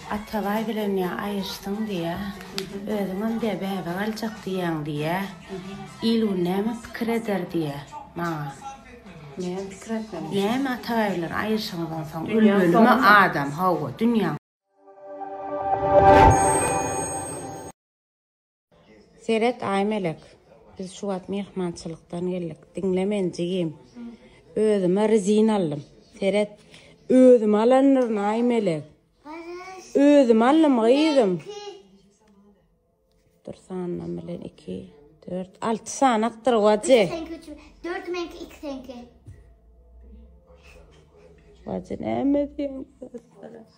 Atabaý bilen ýa aýyşdyň diýýä, özüňem diýýä bäbe galjak diýýäň diýýä, il bu näme pikir eder diýýä maňa. Näme pikir etmeli? Näme Atabaý bilen aýyşyňdan soň ölmelimi adam, hawa, dünýäň. Seret Aýmelek, biz şu wagt myhmançylykdan geldik. Diňle meni jigim. Özüme rezin aldym. Seret. Özüme alandyr Aýmelek. Özüme aldym gyzym. Dur sanlam bilen 2 4 6 sanakdyr wajy. Sen köçü. 4 menki 2 senki. Wajy näme diýen?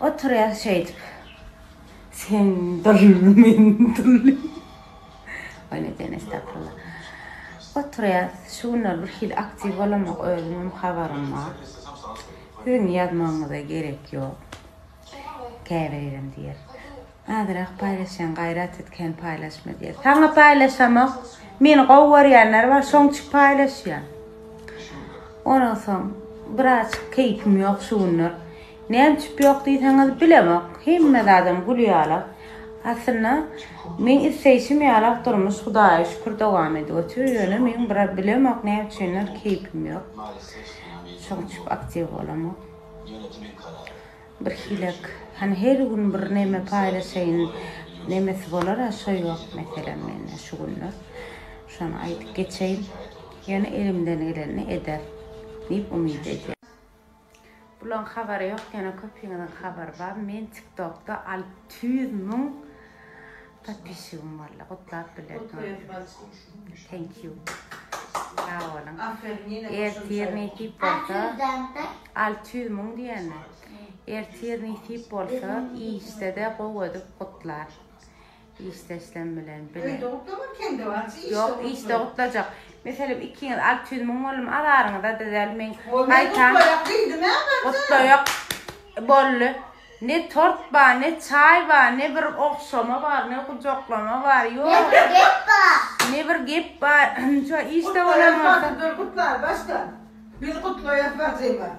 Oturýas şeýdip. Sen dully, men dully. Öýle diýen estagfirullah. Oturýas. Şu günler bir hili aktiw bolamok, özüm hem habarym bar. Siziň ýazmagyňyza gerek ýok. Käbirerem diýer. Azyrak paýlaşýaň gaýrat et kän paýlaşma diýer. Saňa paýlaşamok. Meni gowy görýänler bar şoň üçin paýlaşýan. Ondan soň biraz keýpim ýok şu günler. Näme üçin ýok diýseňiz bilemok. Hemme zadam gül ýaly. Aslynda men isleýşim ýaly durmuş Hudaýa şükür dowam edip otyr. Ýöne men biraz bilemok näme üçindir keýpim ýok. Şoň üçin aktiw bolamok. Bir hilek hany her gün bir neme paýlaşaýyn nemesi bolara şo ýok meselem mende şu günler şony aýdyp geçeýin ýöne elimden gelenini eder diýip umyt edýän. Bulaň habary ýok ýöne köpiňiziň habary bar men tiktokda alty ýüz müň Podpisçigim boldy gutlap bilerdim thank you sag boluň ertir nesip bolsa alty ýüz müň diýenmi ertir nesip bolsa işdede gowy edip gutlar işdeşlem bilen bile öýde gutlama kendi barça ýok işde gutlajak meselem ikiňiz alty ýüz müň boldum azaryňyza dezäl men gaýtam gutlaýak boldy Ne tort bar, ne çaý bar, ne bir ogşama bar, ne gujaklama bar, ýok. Ne bir gep bar. Ne bir gep bar. Şu işde bolan bolsa. Dur gutlar başda. Biz gutlaýas bajymy.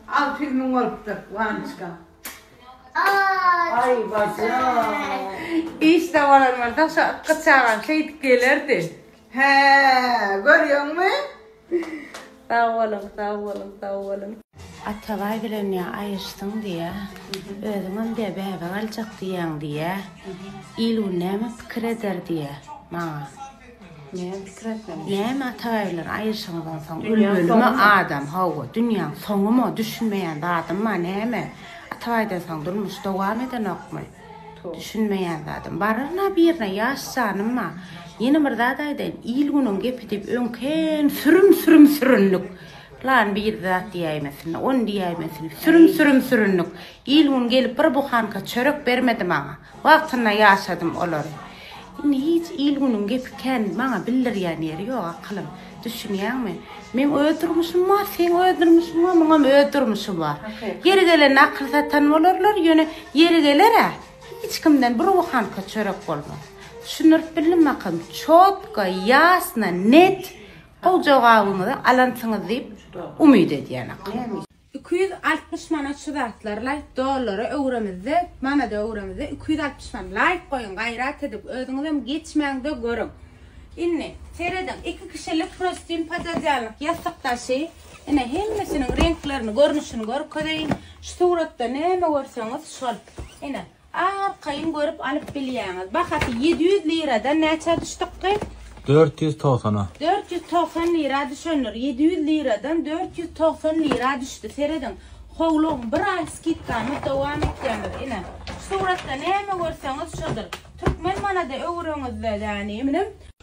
Alty ýüz müň bolupdyr Wanyçka. Aý bajy. Işde bolan bolsa şu ykgy çagam şeýdip gelerdi. Hää, görýäňmi? Sag boluň, sag boluň, sag boluň. Atabaý bilen ýa aýyşsyň diýýä, özüňem diýýä bäbe galjak diýýäň diýýä. Il-gün näme pikir eder diýýä maňa. Näme pikir etmeli? Näme Atabaý bilen aýyşyňyzdan soň ölmelimi adam? Hawa, dünýäň soňumy? Düşünmeýän zadym bar, näme? Atabaýdan soň durmuş dowam edenokmy? Düşünmeýän zadym baryna birine ýaş janymma ýene bir zat aýdaýyn il günüň gepi diýip öňken sürüm sürüm süründik plan bir zat diýäýmesin on diýäýmesin sürüm sürüm süründik il gün gelip bir buhanka çörek bermedi maňa wagtynda ýaşadym olary indi hiç il günüň gepi kän maňa bildirýän ýeri ýok akylym Düşünýäňmi? Meň öz durmuşym bar, seň öz durmuşyň bar, muňam öz durmuşy bar. Ýeri gelende akyl satan bolarlar, ýöne ýeri geler-ä, hiç kimden bir buhanka çörek bolmaz. Düşündirip bildimmi akym? Çotga, ýasna, net gowy jogabyňyzy alansyňyz diýip umyt edýän akym. Iki ýüz altmyş manat şu zatlar laýk dollara öwremizde manada öwremizde iki ýüz altmyş man laýk goýuň gaýrat edip özüňizem geçmäňde görüň indi serediň iki kişilik prostin pododýalnyk ýassyk daşy ine hemmesiniň reňklerini görnüşini görkezeýin şu suratda näme görseňiz şol ine Arkaýyn görüp alyp bilýäňiz. Bahasy ýedi ýüz liradan näçä düşdükki? Dört ýüz togsana. Dört ýüz togsan lira düşendir. Ýedi ýüz liradan dört ýüz togsan lira düşdi. Serediň. Howlugyň bir aý skidkamyz dowam etýändir. Ine, şu suratda näme görseňiz şodur. Türkmen manada öwüreňiz-de, yani, eminim.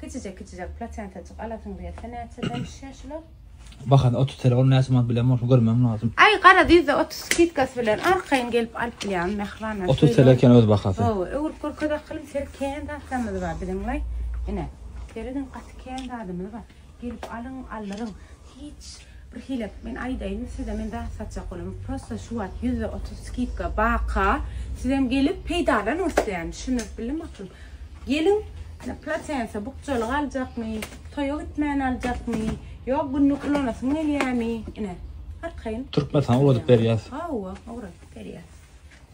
Kiçijek kiçijek plaçentajyk alasyň gelse näçe degişýä şular? Bahasy otuz TL ol näçe manat bilen bolsun görmem lazym. Aý garaz ýüzde otuz skidkasy bilen arkaýyn gelip alyp bilýäňiz mähriban. Otuz TL eken öz bahasy. Hawa öwrüp görkezek gylym ser kän zatlarymyz bar biziň laý. Ine serediň gaty kän zadymyz bar. Gelip alyň aldyryň hiç bir hile men aýdaýyn size men zat satjak bolam prosta şu wagt ýüzde otuz skidka baka sizem gelip peýdalanyň isleýän düşündirip bildim aklym geliň platensa bukjalyk aljakmy toýa gitmän aljakmy ýa günlük ulanasyň gelýämi ine arkaýyn türkmen saňa uladyp berýäs hawa uladyp berýäs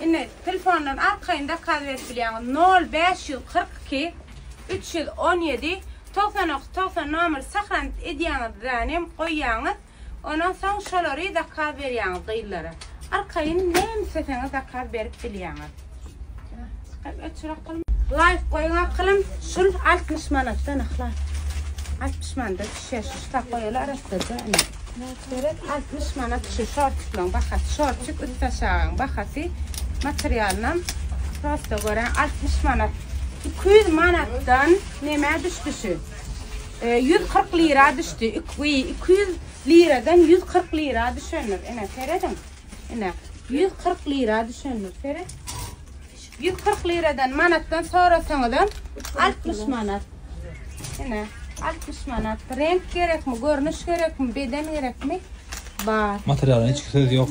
Indi telefondan arkaýyn zakaz berip bilýäňiz nol bäş ýüz kyrk iki üç ýüz on ýedi togsan dokuz togsan nomeri sahranit edýäňiz zanem goýýaňyz ondan soň şolary zakaz berýäňiz gyzlara arkaýyn näme isleseňiz zakaz berip bilýäňiz Hep öçürak gylym. Laýk goýuň akylym şul altmyş manatdan yhlas altmyş manda düşer şu tak goýaly arassaja ine. Çörek altmyş manat şu şortiklaň bahasy şortik üst aşagaň bahasy materialynam prosta göräň altmyş manat iki ýüz manatdan nemä düşdi şu ýüz kyrk lira düşdi iki ýüz liradan ýüz kyrk lira düşendir ine serediň ine ýüz kyrk lira düşendir seret Ýüz kyrk liradan, manatdan sorasaňyzam, altmyş manat. Ine, altmyş manat. Reňk gerekmi, görnüş gerekmi, beden gerekmi? Bar. Materialyň hiç söz ýok.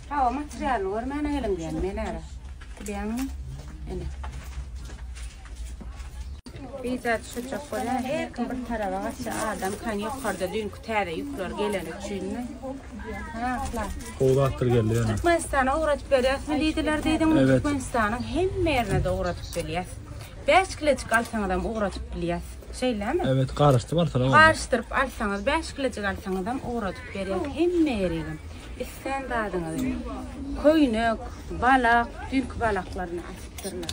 Hawa, materialyny görmäne geliň diýen men ara. Bilýäňmi? Ine. Bize düşecek bolýar. Her kim bir tarafa gaçsa adam kan ýokarda düýnki täze ýükler geleni üçinmi? Ha, plan. Gowy zatlar geldi ýöne. Türkmenistana ugradyp berýäsmi diýdiler diýdim. Evet. Türkmenistanyň hemme ýerine de ugradyp berýäs. 5 kilojik alsaňyz hem ugradyp bilýäs. Şeýlemi? Evet, garyşdyp alsalar boldy. Garyşdyryp alsaňyz, 5 kilojik alsaňyz hem ugradyp berýäs. Hemme ýerine. Islän zadyňyzy. Köýnek, balak, düýnki balaklaryny asypdyrlar.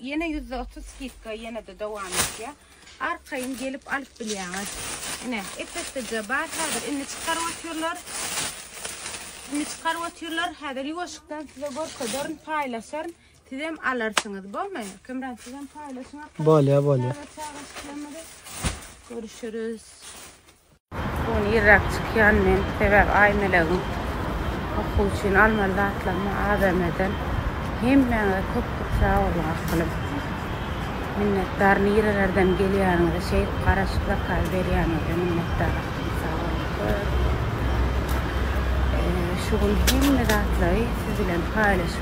Ýene ýüzde otuz skidka ýene-de dowam etýär. Arkaýyn gelip alyp bilýäňiz. Ine, epesdije bar häzir. Indi çykaryp otyrlar. Indi çykaryp otyrlar. Häzir ýuwaşykdan size görkezerin, paýlaşaryn. Sizem alarsyňyz, bolmy? Kemran sizem paýlaşyň. Bolýar, bolýar. Görüşürüz. Gün irräk çykýan men, sebäbi Aýmelegiň okuw üçin almaly zatlaryny ABM-den Hemmäňize köp köp sag boluň akylym. Minnetdar nirelerden gelýäniňize şeýdip garaşyp zakazy berýäniňize minnetdar akylym sag boluň köp. Şu gün hemme zatlary siz bilen paýlaşyp